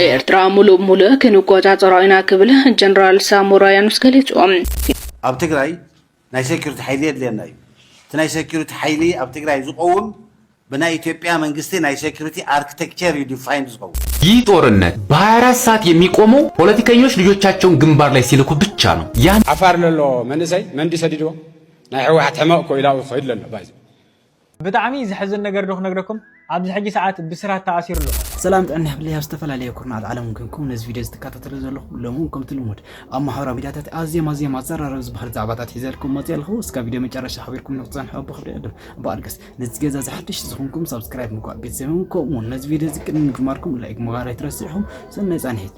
ኤርትራ ሙሉእ ብሙሉእ ክንቆጻጸሮ ኢና ክብል ጀነራል ሳሞራ ያኑስ ገሊጹ። ኣብ ትግራይ ናይ ሴኩሪቲ ሓይሊ የድልየና እዩ እቲ ናይ ሴኩሪቲ ሓይሊ ኣብ ትግራይ ዝቆውም ብናይ ኢትዮጵያ መንግስቲ ናይ ሴኩሪቲ ኣርክቴክቸር እዩ ዲፋይንድ ዝኸውን። ይህ ጦርነት በ ሃያ አራት ሰዓት የሚቆመው ፖለቲከኞች ልጆቻቸውን ግንባር ላይ ሲልኩ ብቻ ነው ያን። ዓፋር ለሎ መንእሰይ መን ድዩ ሰዲድዎ ናይ ሕወሓት ሕመቕ እኮ ኢላኡ ክኸይድ ለሎ ባይዘ ብጣዕሚ ዘሕዝን ነገር ዶ ክነግረኩም ኣብዚ ሕጂ ሰዓት ብስራት ተኣሲሩ ኣሎ። ሰላም ጥዕና ይሃብለይ ኣብ ዝተፈላለየ ኩርናዓት ዓለም ኮንኩም ነዚ ቪድዮ ዝትካታተሉ ዘለኹም ሎሚ እውን ከምቲ ልሙድ ኣብ ማሕበራዊ ሚድያታት ኣዝዮም ኣዝዮም ኣዘራረቢ ዝበሃሉ ዛዕባታት ሒዘልኩም መፂኤ ኣለኹ እስካብ ቪድዮ መጨረሻ ሓቢርኩም ንክትፀንሑ ብኽብሪ ይዕድም ብኣልገስ ነዚ ገዛ እዚ ሓድሽ ዝኾንኩም ሳብስክራይብ ምግባር ቤተሰብ ይኹን ከምኡ እውን ነዚ ቪድዮ እዚ ቅድሚ ምጅማርኩም ላይክ ምባር ኣይትረስዑ ሰናይ ፃንሒት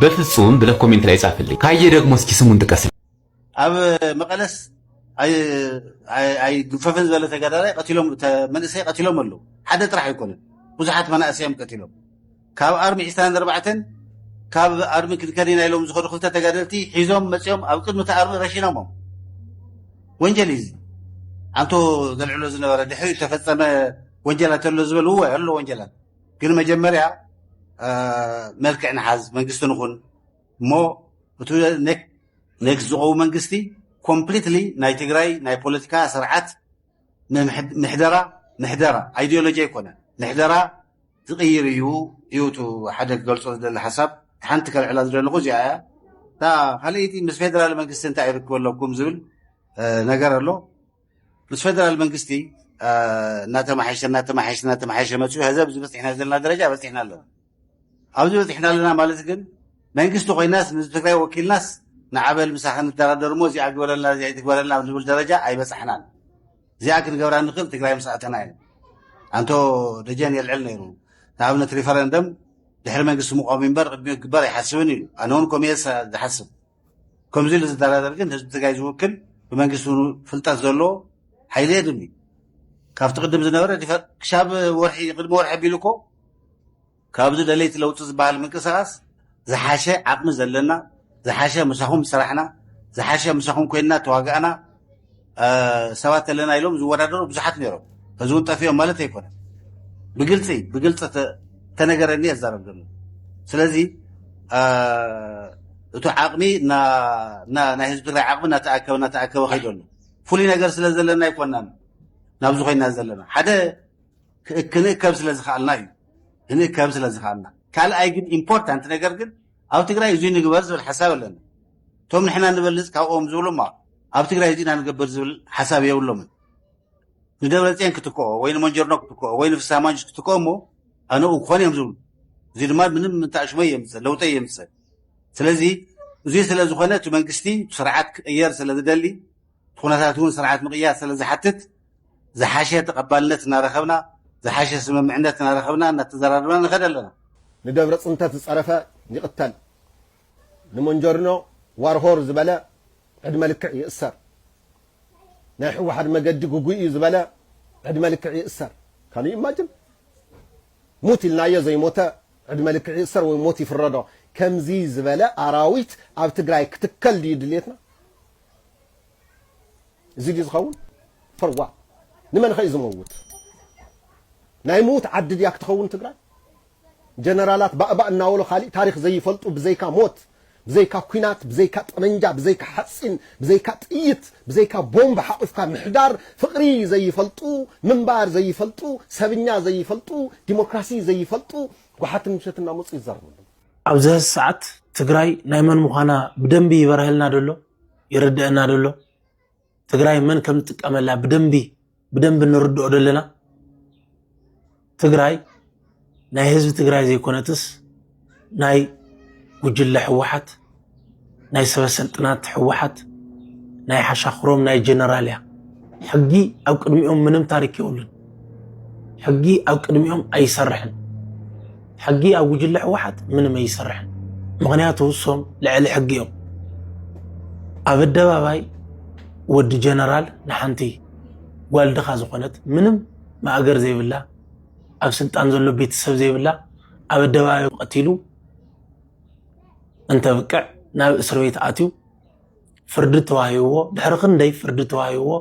በፍጹም ብለህ ኮሜንት ላይ ጻፍልኝ ካየ ደግሞ እስኪ ስሙን ጥቀስልኝ። ኣብ መቐለስ ኣይግፈፍን ዝበለ ተጋዳላይ መንእሰይ ቀቲሎም ኣለዉ ሓደ ጥራሕ ኣይኮነን ብዙሓት መናእሰዮም ቀቲሎም ካብ ኣርሚ ዕስራን ኣርባዕተን ካብ ኣርሚ ክንከኒና ኢሎም ዝኸዱ ክልተ ተጋደልቲ ሒዞም መፅኦም ኣብ ቅድሚ እቲ ኣርሚ ረሺኖሞም ወንጀል እዩ ኣንቶ ዘልዕሎ ዝነበረ ድሕሪ ተፈፀመ ወንጀላት ኣሎ ዝበል እወ ኣሎ ወንጀላት ግን መጀመርያ መልክዕ ንሓዝ መንግስቲ ንኹን እሞ እቲ ኔክስት ዝቀው መንግስቲ ኮምፕሊትሊ ናይ ትግራይ ናይ ፖለቲካ ስርዓት ምሕደራ ምሕደራ ኣይዲዮሎጂ ኣይኮነ ምሕደራ ዝቅይር እዩ እዩ እቲ ሓደ ክገልፆ ዝደሊ ሓሳብ ሓንቲ ከልዕላ ዝደለኹ እዚኣ እያ እታ ካልኣይቲ ምስ ፌደራል መንግስቲ እንታይ ይርክብ ኣለኩም ዝብል ነገር ኣሎ ምስ ፈደራል መንግስቲ እናተማሓየሸ እናተማሓየሸ እናተማሓየሸ መፅኡ ሀዚ ኣብዚ በፂሕና ዘለና ደረጃ በፂሕና ኣለና ኣብዚ በፂሕና ኣለና ማለት ግን መንግስቲ ኮይናስ ንህዝቢ ትግራይ ወኪልናስ ንዓበል ምሳኸ ንደራደር እሞ እዚኣ ግበረልና እዚኣ ይትግበረልና ኣብ ዝብል ደረጃ ኣይበፃሕናን እዚኣ ክንገብራ ንኽእል ትግራይ ምስ ኣተና እዩ ኣንቶ ደጀን የልዕል ነይሩ ንኣብነት ሪፈረንደም ድሕሪ መንግስቲ ምቆም እምበር ቅድሚኡ ክግበር ኣይሓስብን ኢሉ ኣነ እውን ኮሚየ ዝሓስብ ከምዚ ኢሉ ዝደራደር ግን ህዝቢ ትግራይ ዝውክል ብመንግስቲ ውን ፍልጠት ዘለዎ ሓይሊ የድም እዩ ካብቲ ቅድም ዝነበረ ክሻብ ወርሒ ቅድሚ ወርሒ ኣቢሉ እኮ ካብዚ ደለይቲ ለውጢ ዝበሃል ምንቅስቃስ ዝሓሸ ዓቕሚ ዘለና ዝሓሸ ምሳኹም ሰራሕና ዝሓሸ ምሳኹም ኮይንና ተዋጋእና ሰባት ኣለና ኢሎም ዝወዳደሩ ብዙሓት ነይሮም ሕዚ እውን ጠፊኦም ማለት ኣይኮነ ብግልፂ ብግልፂ ተነገረኒ የዛረብ ዘሎ ስለዚ እቲ ዓቕሚ ናይ ህዝቢ ትግራይ ዓቕሚ እናተኣከበ እናተኣከበ ከይዶ ኣሎ ፍሉይ ነገር ስለ ዘለና ኣይኮናን ናብዚ ኮይና ዘለና ሓደ ክንእከብ ስለ ዝኽኣልና እዩ ክንእከብ ስለ ዝኽኣልና ካልኣይ ግን ኢምፖርታንት ነገር ግን ኣብ ትግራይ እዙይ ንግበር ዝብል ሓሳብ የለን። እቶም ንሕና ንበልፅ ካብኦም ዝብሉ እሞ ኣብ ትግራይ እዙይ ኢና ንገብር ዝብል ሓሳብ የብሎምን። ንደብረፅዮን ክትክኦ ወይ ንመንጀርኖ ክትክኦ ወይ ንፍስሃ ማንጁስ ክትክኦ እሞ ኣነኡ ክኾን እዮም ዝብሉ። እዙይ ድማ ምንም እንተኣሽመ የምፅእ ለውጠ የምፅእ። ስለዚ እዙይ ስለዝኾነ እቲ መንግስቲ ስርዓት ክቕየር ስለዝደሊ እቲ ኩነታት እውን ስርዓት ምቕያር ስለዝሓትት ዝሓሸ ተቐባልነት እናረኸብና ዝሓሸ ስምምዕነት እናረኸብና እናተዘራረብና ንኸድ ኣለና። ንደብረ ፅንተት ዝፀረፈ ይቕተል፣ ንሞንጀርኖ ዋር ሆር ዝበለ ዕድመ ልክዕ ይእሰር፣ ናይ ሕወሓድ መገዲ ግጉይ እዩ ዝበለ ዕድመ ልክዕ ይእሰር። ካን ዩ ኢማጅን? ሙት ኢልናዮ ዘይሞተ ዕድመ ልክዕ ይእሰር ወይ ሞት ይፍረዶ። ከምዚ ዝበለ ኣራዊት ኣብ ትግራይ ክትከል ድዩ ድሌትና? እዚ ድዩ ዝኸውን? For what? ንመንኸ እዩ ዝመውት? ናይ ምዉት ዓዲ ድያ ክትኸውን ትግራይ? ጀነራላት ባእባእ እናበሉ ካሊእ ታሪኽ ዘይፈልጡ ብዘይካ ሞት ብዘይካ ኩናት ብዘይካ ጠመንጃ ብዘይካ ሓፂን ብዘይካ ጥይት ብዘይካ ቦምብ ሓቑፍካ ምሕዳር ፍቕሪ ዘይፈልጡ ምንባር ዘይፈልጡ ሰብኛ ዘይፈልጡ ዲሞክራሲ ዘይፈልጡ ጓሓትን ምሸት እናመፁ ይዛረቡ ኣብዚ ሀዚ ሰዓት ትግራይ ናይ መን ምዃና ብደንቢ ይበርሀልና ደሎ ይርደአና ደሎ ትግራይ መን ከም ትጥቀመላ ብደንቢ ብደንቢ ንርድኦ ደለና ትግራይ ናይ ህዝቢ ትግራይ ዘይኮነትስ ናይ ጉጅለ ህወሓት ናይ ሰበሰልጥናት ሕወሓት ናይ ሓሻኽሮም ናይ ጀነራል እያ ሕጊ ኣብ ቅድሚኦም ምንም ታሪክ የብሉን ሕጊ ኣብ ቅድሚኦም ኣይሰርሕን ሕጊ ኣብ ጉጅለ ሕወሓት ምንም ኣይሰርሕን ምክንያቱ እሶም ልዕሊ ሕጊ እዮም ኣብ ኣደባባይ ወዲ ጀነራል ንሓንቲ ጓል ድኻ ዝኾነት ምንም ማእገር ዘይብላ ኣብ ስልጣን ዘሎ ቤተሰብ ዘይብላ ኣብ ኣደባባይ ቀቲሉ እንተብቅዕ ናብ እስር ቤት ኣትዩ ፍርዲ ተዋሂብዎ ድሕሪ ክንደይ ፍርዲ ተዋሂብዎ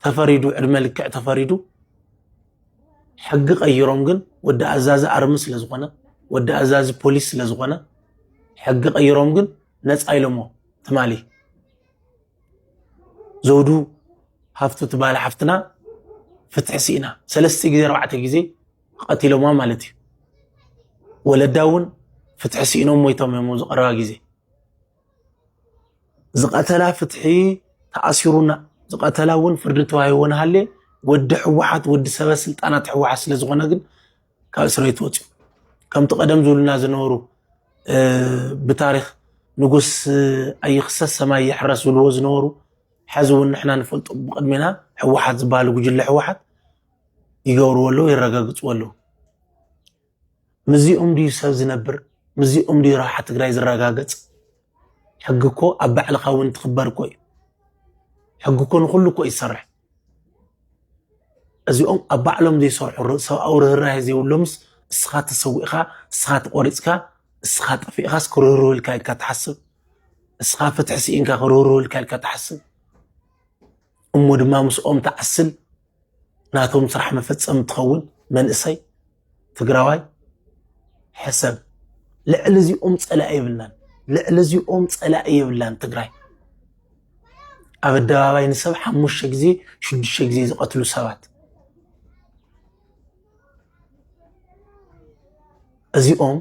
ተፈሪዱ ዕድመ ልክዕ ተፈሪዱ ሕጊ ቀይሮም ግን ወዲ ኣዛዚ ኣርሚ ስለ ዝኾነ ወዲ ኣዛዚ ፖሊስ ስለ ዝኾነ ሕጊ ቀይሮም ግን ነፃ ኢሎሞ ትማሊ ዘውዱ ሃፍቱ ትበሃል ሓፍትና ፍትሒ ስኢና ሰለስተ ግዜ ኣርባዕተ ግዜ ቐቲሎማ ማለት እዩ። ወለዳ እውን ፍትሒ ስኢኖም ሞይቶም እዮም ኣብዚ ቀረባ ግዜ። ዝቐተላ ፍትሒ ተኣሲሩና ዝቐተላ እውን ፍርዲ ተዋሂቦ ንሃልየ ወዲ ሕወሓት ወዲ ሰበ ስልጣናት ሕወሓት ስለ ዝኾነ ግን ካብ እስር ቤት ወፅዩ ከምቲ ቀደም ዝብሉና ዝነበሩ ብታሪክ ንጉስ ኣይኽሰስ ሰማይ ይሕረስ ዝብልዎ ዝነበሩ ሕዚ እውን ንሕና ንፈልጦ ብቅድሜና ሕወሓት ዝበሃል ጉጅለ ሕወሓት ይገብርዎ ኣለዉ የረጋግፅዎ ኣለዉ ምዚኦም ድዩ ሰብ ዝነብር ምዚኦም ድዩ ረብሓ ትግራይ ዝረጋገፅ ሕጊ እኮ ኣብ ባዕልኻ እውን ትኽበር እኮ እዩ ሕጊ እኮ ንኩሉ እኮ እዩ ዝሰርሕ እዚኦም ኣብ ባዕሎም ዘይሰርሑ ሰብኣዊ ርህራሄ ዘይብሎምስ እስኻ ተሰዊእኻ እስኻ ተቆሪፅካ እስኻ ጠፊእኻስ ክርህርህ ኢልካ ኢልካ ትሓስብ እስኻ ፍትሒ ስኢንካ ክርህርህ ኢልካ ኢልካ ትሓስብ እሞ ድማ ምስኦም ትዓስል ናቶም ስራሕ መፈፀሚ ትኸውን መንእሰይ ትግራዋይ ሕሰብ። ልዕሊ እዚኦም ፀላኢ የብልናን፣ ልዕሊ እዚኦም ፀላኢ የብላን ትግራይ። ኣብ ኣደባባይ ንሰብ ሓሙሽተ ግዜ ሽዱሽተ ግዜ ዝቐትሉ ሰባት እዚኦም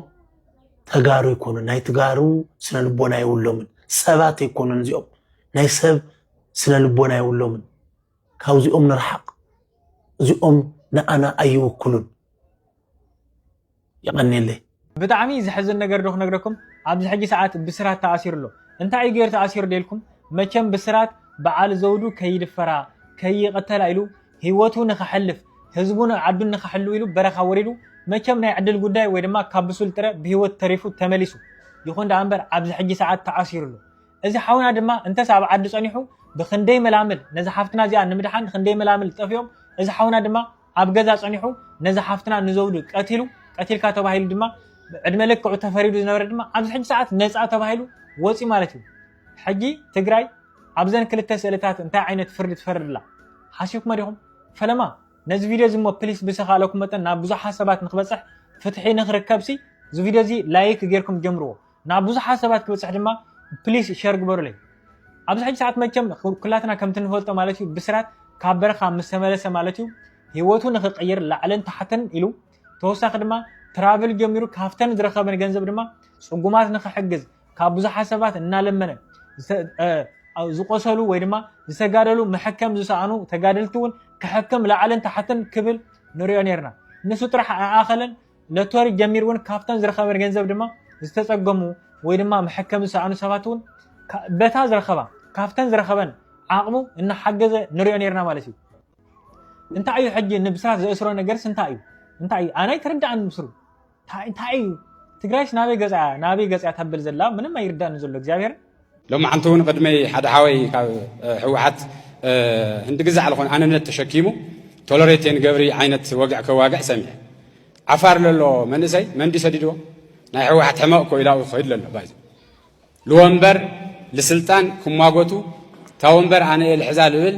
ተጋሩ ይኮኑ ናይ ተጋሩ ስነ ልቦና የብሎምን፣ ሰባት ኣይኮኑን እዚኦም ናይ ሰብ ስነ ልቦና የብሎምን ካብዚኦም ንርሓቅ እዚኦም ንኣና ኣይውክሉን የቀኔለይ። ብጣዕሚ ዘሕዝን ነገር ዶ ክነግረኩም ኣብዚ ሕጂ ሰዓት ብስራት ተኣሲሩ ኣሎ እንታይ እዩ ገይሩ ተኣሲሩ ዶ ኢልኩም መቸም ብስራት በዓል ዘውዱ ከይድፈራ ከይቅተላ ኢሉ ሂወቱ ንከሕልፍ ህዝቡን ዓዱን ንከሕሉ ኢሉ በረኻ ወሪዱ መቸም ናይ ዕድል ጉዳይ ወይ ድማ ካብ ብሱል ጥረ ብሂወት ተሪፉ ተመሊሱ ይኹን ደኣ እምበር ኣብዚ ሕጂ ሰዓት ተኣሲሩ ኣሎ እዚ ሓውና ድማ እንተስ ኣብ ዓዱ ጸኒሑ ብኽንደይ መላምል ነዛ ሓፍትና እዚኣ ንምድሓን ኽንደይ መላምል ጠፊኦም እዚ ሓውና ድማ ኣብ ገዛ ጸኒሑ ነዛ ሓፍትና ንዘውዱ ቀቲሉ ቀቲልካ ተባሂሉ ድማ ዕድመ ልክዑ ተፈሪዱ ዝነበረ ድማ ኣብዚ ሕጂ ሰዓት ነጻ ተባሂሉ ወጺ ማለት እዩ ሕጂ ትግራይ ኣብዘን ክልተ ስእልታት እንታይ ዓይነት ፍርዲ ትፈርድላ ሓሲብኩመ ዲኹም ፈለማ ነዚ ቪድዮ እዚ እሞ ፕሊስ ብዝተኻእለኩም መጠን ናብ ብዙሓት ሰባት ንክበፅሕ ፍትሒ ንክርከብ ሲ እዚ ቪድዮ እዚ ላይክ ጌርኩም ጀምርዎ ናብ ብዙሓት ሰባት ክብፅሕ ድማ ፕሊስ ሸር ግበሩለይ ኣብዚ ሕጂ ሰዓት መቸም ኩላትና ከምቲ ንፈልጦ ማለት እዩ ብስራት ካብ በረኻ ምስ ተመለሰ ማለት እዩ ሂወቱ ንክቅይር ላዕልን ታሕትን ኢሉ ተወሳኺ ድማ ትራቭል ጀሚሩ ካብተን ዝረኸበን ገንዘብ ድማ ፅጉማት ንክሕግዝ ካብ ብዙሓት ሰባት እናለመነ ዝቆሰሉ ወይ ድማ ዝተጋደሉ መሐከም ዝሰኣኑ ተጋደልቲ እውን ክሕክም ላዕልን ታሕትን ክብል ንሪኦ ነርና ንሱ ጥራሕ ኣይኣኸለን ሎቶሪ ጀሚሩ እውን ካብቶም ዝረኸበ ገንዘብ ድማ ዝተፀገሙ ወይ ድማ መሐከሚ ዝሰኣኑ ሰባት እውን በታ ዝረኸባ ካብተን ዝረኸበን ዓቕሙ እናሓገዘ ንሪኦ ነርና ማለት እዩ እንታይ እዩ ሕጂ ንብስራት ዘእስሮ ነገርስ እንታይ እዩ እንታይ እዩ ኣነ ኣይተረዳእን ምስሩ እንታይ እዩ ትግራይስ ናበይ ገፃ ናበይ ገፃ ተብል ዘላ ምንም ኣይርዳእን ዘሎ እግዚኣብሔር ሎማዓንቲ እውን ቅድመይ ሓደ ሓወይ ካብ ህወሓት ህንዲ ግዛዕ ዝኾነ ኣንነት ተሸኪሙ ቶለሬቴን ገብሪ ዓይነት ወግዕ ከዋግዕ ሰሚዐ ዓፋር ለሎ መንእሰይ መንዲ ሰዲድዎ ናይ ህወሓት ሕመቕ እኮ ኢላኡ ክኸይድ ለሎ ባይዞ ልወንበር ልስልጣን ክሟጎቱ እታ ወንበር ኣነ እየ ልሕዛ ልብል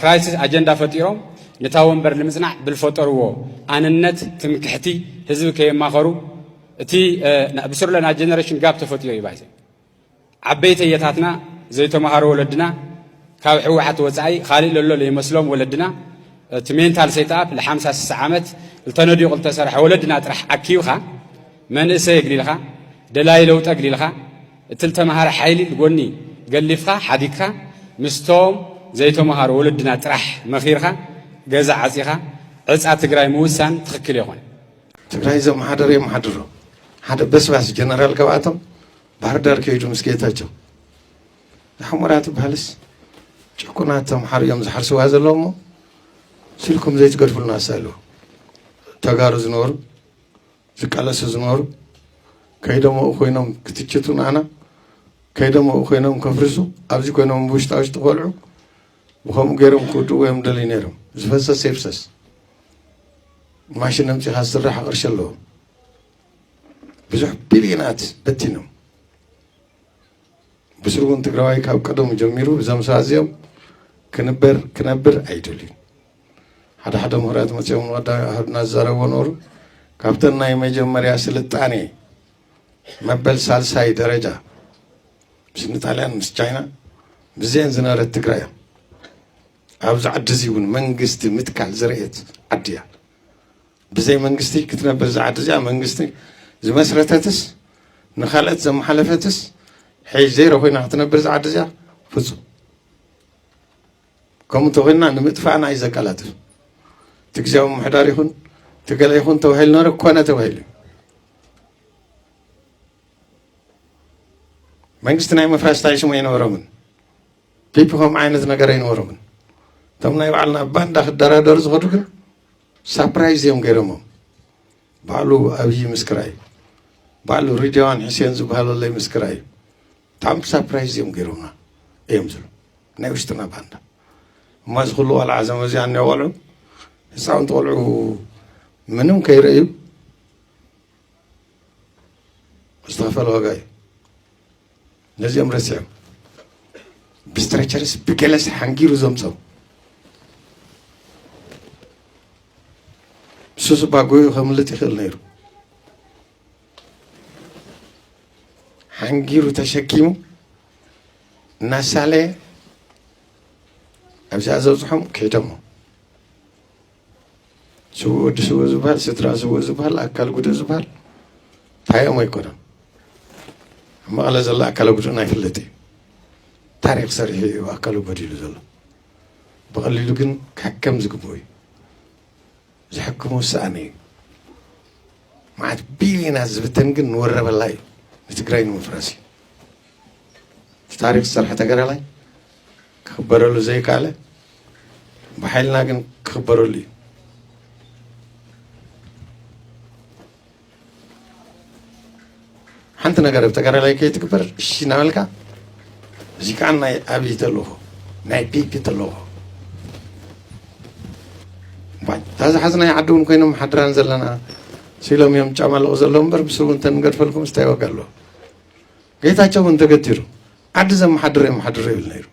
ክራይሲስ ኣጀንዳ ፈጢሮም ነታ ወንበር ልምፅናዕ ብልፈጠርዎ ኣንነት ትምክሕቲ ህዝቢ ከየማኸሩ እቲ ንኣብስር ለና ጀነሬሽን ጋብ ተፈጢሩ እዩ ባይዘ ዓበይቲ እየታትና ዘይተምሃሩ ወለድና ካብ ሕወሓት ወፃኢ ካልእ ለሎ ዘይመስሎም ወለድና እቲ ሜንታል ሴትኣፕ ል50 ስሳ ዓመት ዝተነዲቑ ዝተሰርሐ ወለድና ጥራሕ ኣኪብኻ መንእሰይ የግሊልኻ ደላይ ለውጠ ኣግሊልኻ እቲ ዝተምሃረ ሓይሊ ጎኒ ገሊፍኻ ሓዲግካ ምስቶም ዘይተምሃሩ ወለድና ጥራሕ መኺርካ ገዛ ዓፂኻ ዕፃ ትግራይ ምውሳን ትኽክል የኾነ ትግራይ ዘመሓደረ የመሓድሮ ሓደ በስባስ ጀነራል ካብኣቶም ባህርዳር ከይዱ ምስ ጌታቸው ንሕሞራ ትበሃልስ ጭቁናት ተምሓሩ እዮም ዝሓርስዋ ዘለዎ እሞ ስልኩም ዘይትገድፍሉና ኣለዎ ተጋሩ ዝነበሩ ዝቃለሱ ዝነበሩ ከይዶም ኣብኡ ኮይኖም ክትችቱ ንኣና ከይዶም ኣብኡ ኮይኖም ከፍርሱ ኣብዚ ኮይኖም ብውሽጣ ውሽጢ ቆልዑ ብከምኡ ገይሮም ክውድእዎ እዮም ደልዩ ነይሮም ዝፈሰስ የፍሰስ ማሽን ኣምፂኻ ዝስራሕ ቅርሺ ኣለዎ ብዙሕ ቢልዮናት በቲኖም ብስሩ እውን ትግራዋይ ካብ ቀደሙ ጀሚሩ እዞም ሰባት እዚኦም ክንበር ክነብር ኣይደልዩን ሓደ ሓደ ምሁራት መፅኦም ንቀዳ ሃዱና ዝዛረብዎ ነበሩ ካብተን ናይ መጀመርያ ስልጣኔ መበል ሳልሳይ ደረጃ ምስ ንጣልያን ምስ ቻይና ብዘን ዝነበረት ትግራይ እዮም ኣብዚ ዓዲ እዚ እውን መንግስቲ ምትካል ዝረኤት ዓዲ እያ ብዘይ መንግስቲ ክትነብር እዚ ዓዲ እዚኣ መንግስቲ ዝመስረተትስ ንካልኦት ዘመሓለፈትስ ሕይ ዜሮ ኮይና ክትነብር እዚ ዓዲ እዚኣ ፍፁም ከምኡ እንተኾይንና ንምጥፋእና እዩ ዘቀላጥፍ እቲ ግዜያዊ ምሕዳር ይኹን እቲ ገለ ይኹን ተባሂሉ ነረ ኮነ ተባሂሉ መንግስቲ ናይ ምፍራስ ታይ ሽሙ ኣይነበሮምን ፒፒ ከም ዓይነት ነገር ኣይነበሮምን እቶም ናይ ባዕልና ባንዳ ክደራደሩ ዝኸዱ ግን ሳፕራይዝ እዮም ገይሮሞም ባዕሉ ኣብዪ ምስክራ እዩ ባዕሉ ሪድዋን ሕሴን ዝበሃለለይ ምስክራ እዩ ብጣዕሚ ሳፕራይዝ እዮም ገይሮምና እዮም ዝብሉ ናይ ውሽጥና ባንዳ እማ እዚ ኩሉ ቆልዓ እዞም እዚኣ እኒኦ ቆልዑ ህፃውንቲ ቆልዑ ምንም ከይርእዩ ዝተኸፈለ ዋጋ እዩ ነዚኦም ረሲዖም ብስትረቸርስ ብገለስ ሓንጊሩ ዘምፀው ንሱ ስባ ጎዩ ከምልጥ ይኽእል ነይሩ ሓንጊሩ ተሸኪሙ እናሳለየ ኣብዚኣ ዘብፅሖም ከይዶሞ ስውእ ወዲ ስውእ ዝበሃል ስድራ ስውእ ዝበሃል ኣካል ጉድእ ዝበሃል ታይኦም ኣይኮነን ኣብ መቐለ ዘሎ ኣካለ ጉድእ ናይ ፍልጥ እዩ ታሪክ ሰሪሑ እዩ ኣካሉ ጎዲሉ ዘሎ ብቐሊሉ ግን ክሕከም ዝግብኡ እዩ ዝሕክሞ ዝሰኣነ እዩ መዓት ቢልዮናት ዝብተን ግን ንወረበላ እዩ ንትግራይ ንምፍራስ እዩ እቲ ታሪክ ዝሰርሐ ተገራላይ ክኽበረሉ ዘይከኣለ ብሓይልና ግን ክኽበረሉ እዩ ሓንቲ ነገር ኣብ ተጋዳላይ ከይትግበር እሺ እናበልካ እዚ ከዓ ናይ ኣብይ ተልእኾ ናይ ቢቢ ተልእኾ እታ ዝሓዝናይ ዓዲ እውን ኮይኖም ሓድራን ዘለና ሲሎም እዮም ጫማለቑ ዘለዉ እምበር ምስ እውን ተንገድፈልኩም ስታይ ዋጋ ኣለዎ ጌታቸው እውን ተገቲሩ ዓዲ ዘመሓድር የመሓድር ይብል ነይሩ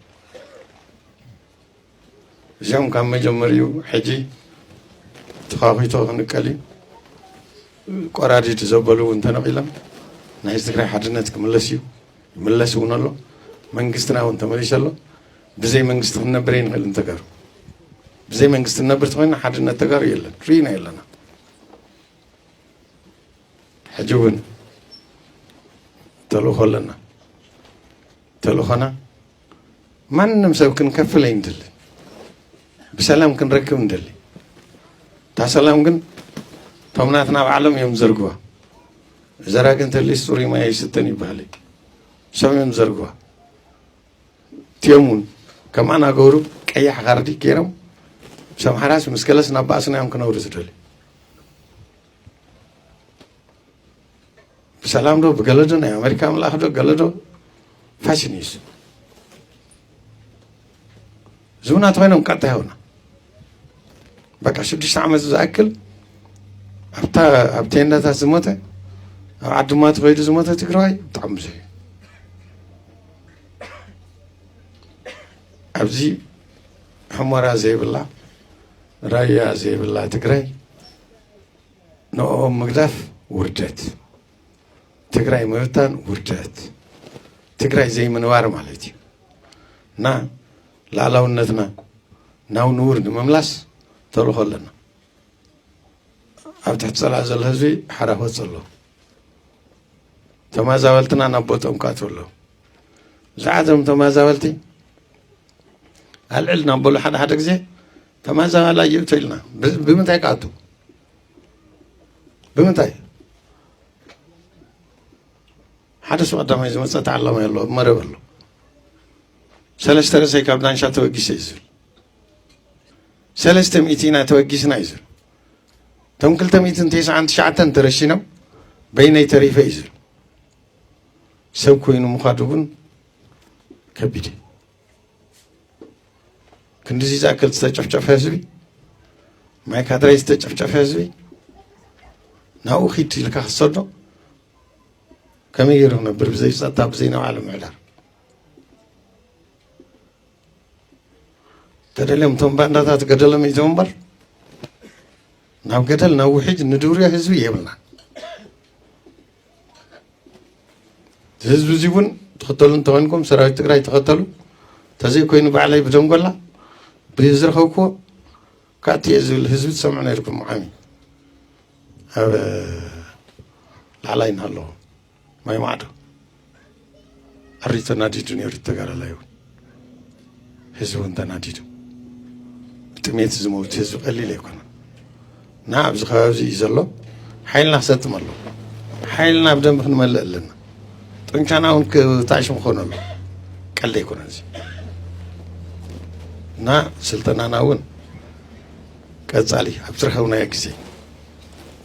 እዚኦም ካብ መጀመሪኡ ሕጂ ተዃኺቶ ክንቀል እዩ ቆራዲድ ዘበሉ እውን ተነቂሎም ናይ ህዝቢ ትግራይ ሓድነት ክምለስ እዩ ይምለስ እውን ኣሎ መንግስትና እውን ተመሊሱ ኣሎ ብዘይ መንግስቲ ክንነብር ኣይንኽእልን ተጋሩ ብዘይ መንግስቲ ንነብር ተኮይና ሓድነት ተጋሩ የለን ርኢና የለና ሕጂ እውን ተልእኾ ኣለና ተልእኾና ማንም ሰብ ክንከፍል ኣይንድልን ብሰላም ክንረክብ ንደሊ እታ ሰላም ግን እቶም ናትና ባዕሎም እዮም ዘርግዋ ዘራ ግን ተሊስ ፅሩይ ማይ ኣይስተን ይበሃል ሰም እዮም ዘርግዋ እትኦም እውን ከምኣና ገብሩ ቀያሕ ካርዲ ገይሮም ሰምሓራስ ምስ ከለስ ናብ ባእስና እዮም ክነብሩ ዝደልዩ ብሰላም ዶ ብገለ ዶ ናይ ኣሜሪካ ምልኣኽ ዶ ገለ ዶ ፋሽን እዩ ዝብና ተኮይኖም ቀጥታ ይሆና በቃ ሽዱሽተ ዓመት ዝኣክል ኣብታ ኣብ ቴንዳታት ዝሞተ ኣብ ዓድማ ተኸይዱ ዝሞተ ትግራዋይ ብጣዕሚ ብዙሕ እዩ ኣብዚ ሕሞራ ዘይብላ ራያ ዘይብላ ትግራይ ንኦም ምግዳፍ ውርደት፣ ትግራይ ምብታን ውርደት፣ ትግራይ ዘይምንባር ማለት እዩ እና ላዕላውነትና ናብ ንቡር ንምምላስ ተልእኾ ኣለና። ኣብ ትሕቲ ፀላእ ዘሎ ህዝቢ ሓራ ክወፅ ኣሎ። ተመዛበልትና ናብ ቦትኦም ክኣት ኣሎ። ብዛዕባ እዞም ተመዛበልቲ ኣልዕል ናብ በሉ ሓደ ሓደ ግዜ ተመዛባላይ እዩ ትብልና ብ- ብምንታይ ክኣቱ ብምንታይ ሓደ ሰው ቀዳማይ ዝመፀ ተዓላማይ ኣሎ ኣብ መረብ ኣሎ ሰለስተ ርእሰይ ካብ ዳንሻ ተበጊሰ እዩ ዝብል ሰለስተ ሚእቲ ኢና ተበጊስና እዩ ዝብል እቶም ክልተ ሚእትን ተስዓን ትሽዓተን ተረሺኖም በይነይ ተሪፈ እዩ ዝብል ሰብ ኮይኑ ምዃዱ እውን ከቢድ እዩ ክንድዚ ዝኣክል ዝተጨፍጨፈ ህዝቢ ማይ ካድራይ ዝተጨፍጨፈ ህዝቢ ናብኡ ኪድ ኢልካ ክሰዶ ከመይ ገይሩ ክነብር ብዘይ ፀጥታ ብዘይ ናብ ዓለም ምዕዳር ተደልዮም እቶም ባንዳታት ገደሎም ይዘው እምበር ናብ ገደል ናብ ውሕጅ ንድውርዮ ህዝቢ የብልና ህዝቢ እዚ እውን ትኽተሉ እንተኮይንኩም ሰራዊት ትግራይ ተኸተሉ ተዘይኮይኑ ባዕለይ ብደንጎላ ብዝረኸብክዎ ካቲ እየ ዝብል ህዝቢ ትሰምዑ ነይርኩም ዓሚ ኣብ ላዕላይ እናሃለዎ ማይ ማዕዶ ኣሪ ተናዲዱ ነይሩ ተጋዳላይ እውን ህዝቢ እውን ተናዲዱ ብጥሜት ዝመውት ህዝቢ ቀሊል ኣይኮነን እና ኣብዚ ከባቢ እዚ እዩ ዘሎ ሓይልና ክሰጥም ኣሎ ሓይልና ብደንብ ክንመልእ ኣለና ጥንካና እውን ታሽም ክኾነ ኣሎ ቀለ ኣይኮነን እዚ እና ስልጠናና እውን ቀፃሊ ኣብ ዝረኸብናዮ ግዜ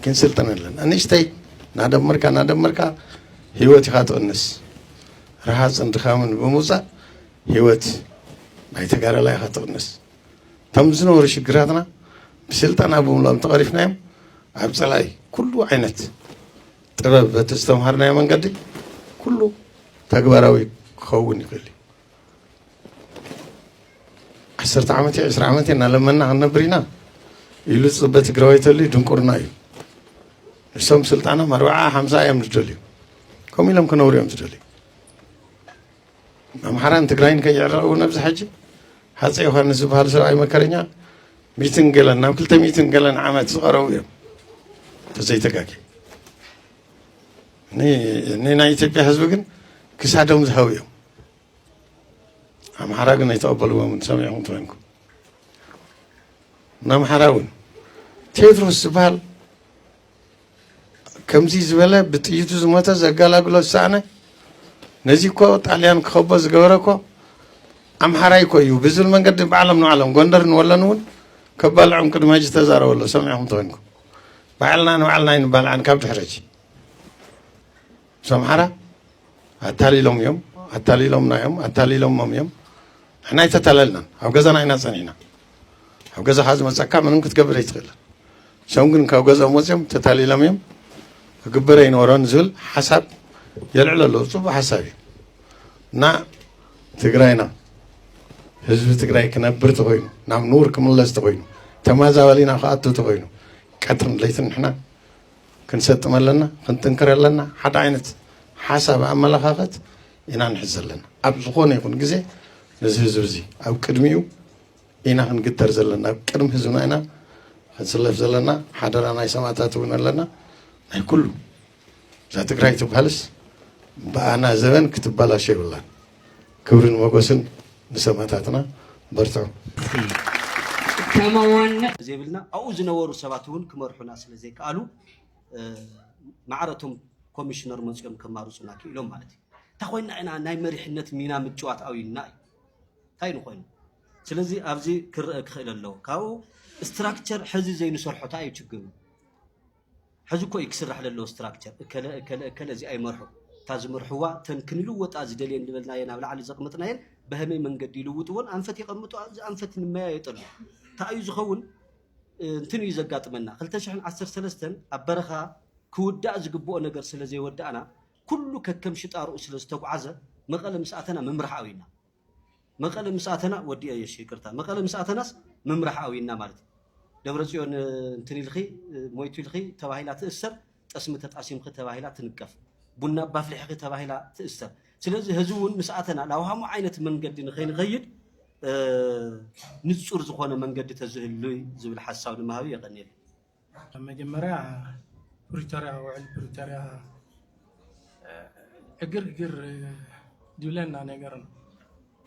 ክንስልጠን ኣለና ንእሽተይ እናደመርካ እናደመርካ ህይወት ኢኻ ትቕንስ ረሃፅን ድኻምን ብምውፃእ ህይወት ናይ ተጋዳላይ ኢኻ ትቕንስ እቶም ዝነበሩ ሽግራትና ብስልጠና ብምልኦም ተቐሪፍናዮም ኣብ ፀላኢ ኩሉ ዓይነት ጥበብ በቲ ዝተምሃርናዮ መንገዲ ኩሉ ተግባራዊ ክኸውን ይኽእል እዩ ዓሰርተ ዓመት እዩ ዕስራ ዓመት እናለመና ክንነብር ኢና ኢሉ ዝፅበ ትግራዋይ ተሉ ድንቁርና እዩ እሶም ስልጣኖም ኣርባዓ ሓምሳ እዮም ዝደልዩ ከምኡ ኢሎም ክነብሩ እዮም ዝደልዩ ኣምሓራን ትግራይን ከይዕረቕ እውን ኣብዚ ሕጂ ሃፀ ዮሃንስ ዝበሃል ሰብኣይ መከረኛ ሚትን ገለን ናብ ክልተ ሚትን ገለን ዓመት ዝቐረቡ እዮም ተዘይተጋጊ ንናይ ኢትዮጵያ ህዝቢ ግን ክሳዶም ዝሃቡ እዮም ኣምሓራ ግን ኣይተቐበልዎም ሰሚዕኹም ትኮንኩም ንኣምሓራ እውን ቴድሮስ ዝበሃል ከምዚ ዝበለ ብጥይቱ ዝሞተ ዘጋላግሎ ዝሰኣነ ነዚ እኮ ጣልያን ክኸቦ ዝገበረ እኮ ኣምሓራይ እኮ እዩ ብዝብል መንገዲ ባዕሎም ንባዕሎም ጎንደር ንወለን እውን ከባልዖም ቅድመ ሕጂ ተዛረበሎ ሰሚዕኹም ተኮንኩም ባዕልና ንባዕልና ኣይንባልዓን ካብ ድሕረጂ ምስ ኣምሓራ ኣታሊሎም እዮም ኣታሊሎምና እዮም ኣታሊሎሞም እዮም ንሕና ኣይተታለልናን ኣብ ገዛና ኢና ፀኒሕና ኣብ ገዛኻ ዝመፀካ ምንም ክትገብር ኣይትኽእልን እሶም ግን ካብ ገዝኦም ወፅኦም ተታሊሎም እዮም ክግበር ኣይነበሮን ዝብል ሓሳብ የልዕሎ ኣለዎ ፅቡቅ ሓሳብ እዩ እና ትግራይና ህዝቢ ትግራይ ክነብር ተኮይኑ ናብ ንቡር ክምለስ ተኮይኑ ተመዛበሊና ክኣቱ ተኮይኑ ቀትርን ለይትን ንሕና ክንሰጥም ኣለና፣ ክንጥንክር ኣለና፣ ሓደ ዓይነት ሓሳብ ኣመለኻኸት ኢና ንሕዝ ዘለና። ኣብ ዝኾነ ይኹን ግዜ ነዚ ህዝቢ እዚ ኣብ ቅድሚኡ ኢና ክንግተር ዘለና፣ ኣብ ቅድሚ ህዝብና ኢና ክንስለፍ ዘለና። ሓደራ ናይ ሰማእታት እውን ኣለና። ናይ ኩሉ እዛ ትግራይ ትብሃልስ ብኣና ዘበን ክትበላሸ ይብላን። ክብርን ሞጎስን ንሰማታትና በርትዑ። ጭካማ ዋና ዘይብልና ኣብኡ ዝነበሩ ሰባት እውን ክመርሑና ስለ ዘይከኣሉ ማዕረ እቶም ኮሚሽነር መፅኦም ከማርፁና ክኢሎም ማለት እዩ እንታይ ኮይና ኢና ናይ መሪሕነት ሚና ምጭዋት ኣብዩና እዩ እንታይ ንኮይኑ ስለዚ ኣብዚ ክረአ ክኽእል ኣለዎ ካብኡ ስትራክቸር ሕዚ ዘይንሰርሖ እንታይ እዩ ችግሩ ሕዚ እኮ እዩ ክስራሕ ለለዎ ስትራክቸር እከለ እከለ እከለ እዚኣ ይመርሑ እታ ዝመርሕዋ እተን ክንልወጣ ዝደልየን ዝበልናየን ኣብ ላዕሊ ዘቕመጥናየን በሀመይ መንገዲ ይልውጥዎን ኣንፈት የቐምጡ እዚ ኣንፈት ንመያየጠሉ እንታይ እዩ ዝኸውን እንትን እዩ ዘጋጥመና ክልተ ሽሕን ዓሰርተ ሰለስተን ኣብ በረኻ ክውዳእ ዝግብኦ ነገር ስለ ዘይወዳእና ኩሉ ከከም ሽጣርኡ ስለ ዝተጉዓዘ መቐለ ምስ ኣተና ምምራሕ ኣውይና መቀለ ምስ ኣተና ወዲኤ እሺ ይቅርታ መቀለ ምስ ኣተናስ ምምራሕ ኣውይና ማለት እዩ ደብረፅዮን እንትን ኢልኺ ሞይቱ ኢልኺ ተባሂላ ትእሰር ጠስሚ ተጣሲምኺ ተባሂላ ትንቀፍ ቡና እባ ኣፍሊሕኺ ተባሂላ ትእሰር ስለዚ ህዚ እውን ምስ ኣተና ላውሃሙ ዓይነት መንገዲ ንኸይንኸይድ ንፁር ዝኾነ መንገዲ ተዝህሉይ ዝብል ሓሳብ ንምሃብ የቀኒየለይ ኣብ መጀመርያ ፕሪቶርያ ውዕል ፕሪቶርያ ዕግርግር ድብለና ነገር ነው።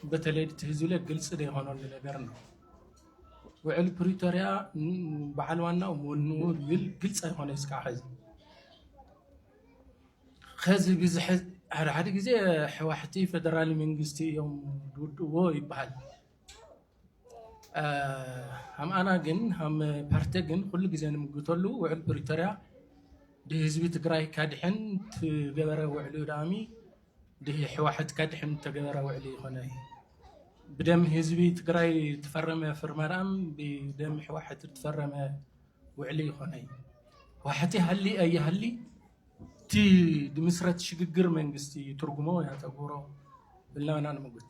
በተለይ እቲ ህዝብለ ግልፂ ዘይኮነሉ ነገር ነው። ውዕል ፕሪቶርያ በዓል ዋናው ወንኡ ዝብል ግልፂ ኣይኮነ እስካዕ ሕዚ ከዚ ብዝሐ ሓደ ሓደ ግዜ ሕዋሕቲ ፈደራል መንግስቲ እዮም ዝውድእዎ ይበሃል። ሃምኣና ግን ሃም ፓርቲ ግን ኩሉ ግዜ ንምግተሉ ውዕል ፕሪቶርያ ድህዝቢ ትግራይ ከድሕን ትገበረ ውዕሉ ዳኣሚ ድህ ሕዋሕት ከድሕን ተገበረ ውዕሊ ይኮነ ብደም ህዝቢ ትግራይ ትፈረመ ፍርማ ዳኣም ብደም ሕዋሕት ትፈረመ ውዕሊ ይኮነ ዋሕቲ ሃሊ ኣይሃሊ እቲ ድምስረት ሽግግር መንግስቲ ትርጉሞ ያተግብሮ ብልናና ንምጉት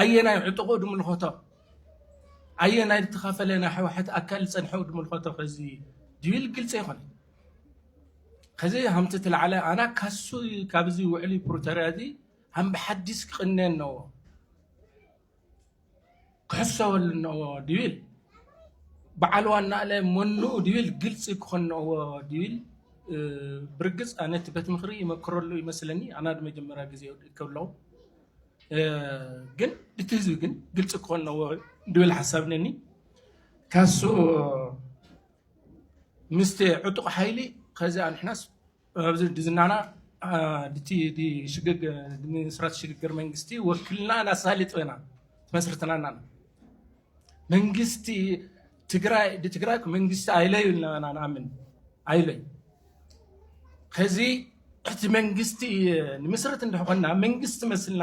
ኣየናይ ዕጡቑ ድምልኸቶ ኣየናይ ድተኸፈለ ናይ ሕዋሕት ኣካል ዝፀንሐው ድምልኸቶ ከዚ ድብል ግልፂ ኣይኮነ ከዚ ሃምቲ ትላዕለ ኣና ካሱ ካብዚ ውዕሊ ፕሪቶሪያ እዚ ሃም ብሓዲስ ክቕነ ነዎ ክሕሰበሉ ነዎ ድብል በዓል ዋናለ መኑኡ ድብል ግልፂ ክኾን ነዎ ድብል ብርግፅ ኣነ እቲ ቤት ምኽሪ ይመክረሉ ይመስለኒ ኣና ድመጀመሪያ ግዜ ይወድእ ከለኹ ግን እቲ ህዝቢ ግን ግልፂ ክኾን ኣለዎ ድብል ሓሳብ ነኒ ካሱ ምስቲ ዕጡቕ ሓይሊ ከዚ ኣንሕናስ ኣብዚ ድዝናና ድቲ ሽግግ ምስራት ሽግግር መንግስቲ ወክልና ናሳሊጥ ኢና ትመስርትናና መንግስቲ ትግራይ ብትግራይ መንግስቲ ኣይለዩ ኣለና ንኣምን ኣይለዩ ከዚ እቲ መንግስቲ ንምስርት እንደኾና መንግስቲ መስልና